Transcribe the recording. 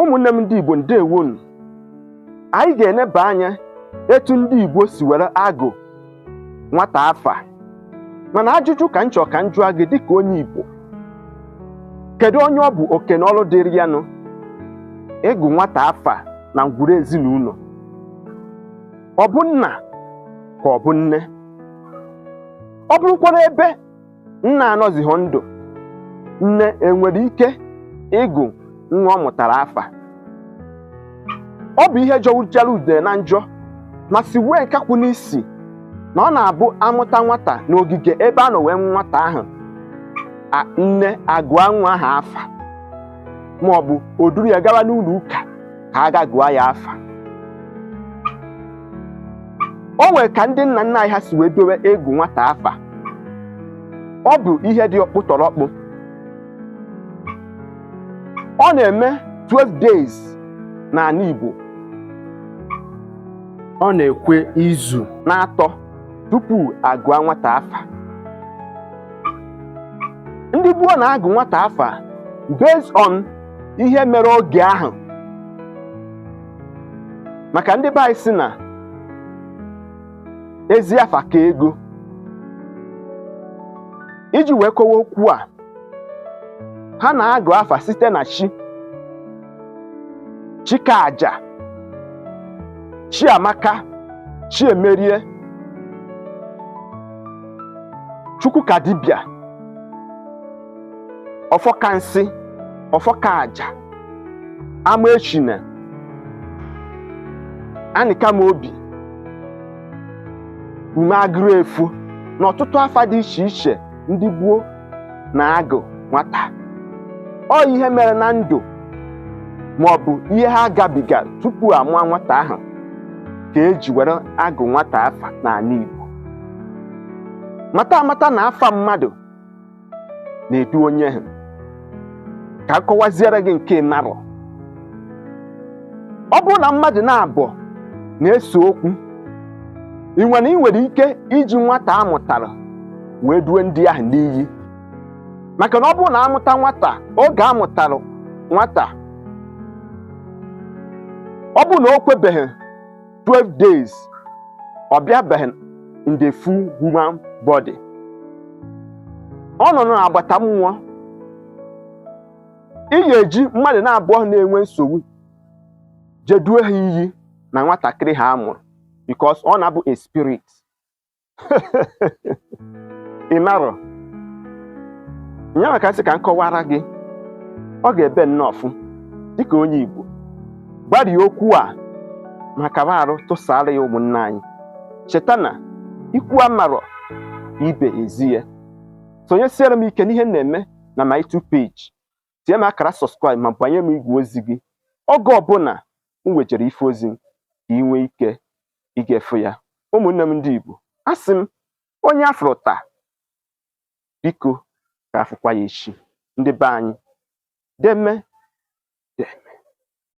ụmụnne m ndị Igbo ndewonu anyị ga-eneba anya etu ndị Igbo si were agụ nwata afa mana ajụjụ ka m chọ ka m jụa gị dịka onye Igbo kedu onye ọ bụ oke na ọrụ dịịrị ya nụ ịgụ nwata afa na ngwuru ezinụlọ ọ bụ nna ka ọ bụ nne ọ bụrụkwara ebe nna anọzighị ndụ nne enwere ike ịgụ nwa ọ mụtara afa ọ bụ ihe jọwuchara udene njọ ma siwue nkakwụ n'isi na ọ na-abụ a mụta nwata n'ogige ebe a nọ wee mụọ nwata ahụ nne agụa nwa ahụ afa ma ọ bụ o duru ya gawa n'ụlọ ụka ka a ga gụọ ya afa o nwere ka ndị nna nna anyị ha si wee dowe ịgụ nwata afa ọ bụ ihe dị ọkpụtọrọkpụ ọ na-eme 12 days n'anị Igbo ọ na-ekwe izu naatọ tupu a gụa nwata afa ndị gboo na-agụ nwata afa based on ihe mere oge ahụ maka ndị be anyị sị na ezi afa ka ego iji wee kowa okwu a ha na-agụ afa site na chi Chikaaja Chiamaka Chiemerie Chukwukadibịa Ọfọkansị Ọfọkaaja Amaechina anịka m obi ume agụrụ efu na ọtụtụ afa dị iche iche ndị gboo na-agụ nwata ọ ihe mere na ndụ ma ọ bụ ihe ha gabiga tupu a mụọ nwata ahụ ka e ji were agụ nwata afa n'anị Igbo mata amata na afa mmadụ na-edu onye ahụ ka a kọwaziere gị nke ị marọ ọ bụrụ na mmadụ naabụọ na-ese okwu ị nwere ị nwere ike iji nwata a mụtara wee due ndị ahụ n'iyi maka na ọ bụrụ na a mụta nwata oge a mụtara nwata ọ bụrụ na o kwebeghị 12 days ọ bịabeghị in the full human body ọ nọ n'agbata mmụọ ị ga-eji mmadụ naabụọ ahụ na-enwe nsogbu je due ha iyi na nwatakịrị ahụ a mụrụ because ọ na-abụ a spirit ị marọ nyanwa ka m sị ka m kọwara gị ọ ga-ebe nnọọ ọfụ dịka onye Igbo gbarie okwu a ma kaba arụ tụsara ya ụmụnne anyị cheta na ikwu amarọ ibe ezi ya sonyesiere m ike n'ihe m na-eme na my YouTube page tie m akara subscribe ma banye m igwe ozi gị oge ọbụla m wejere ife ozi ka ị nwee ike igefu ya ụmụnne m ndị Igbo asị m onye afụrụ taa biko ka afụkwa ya echi ndị be anyị deme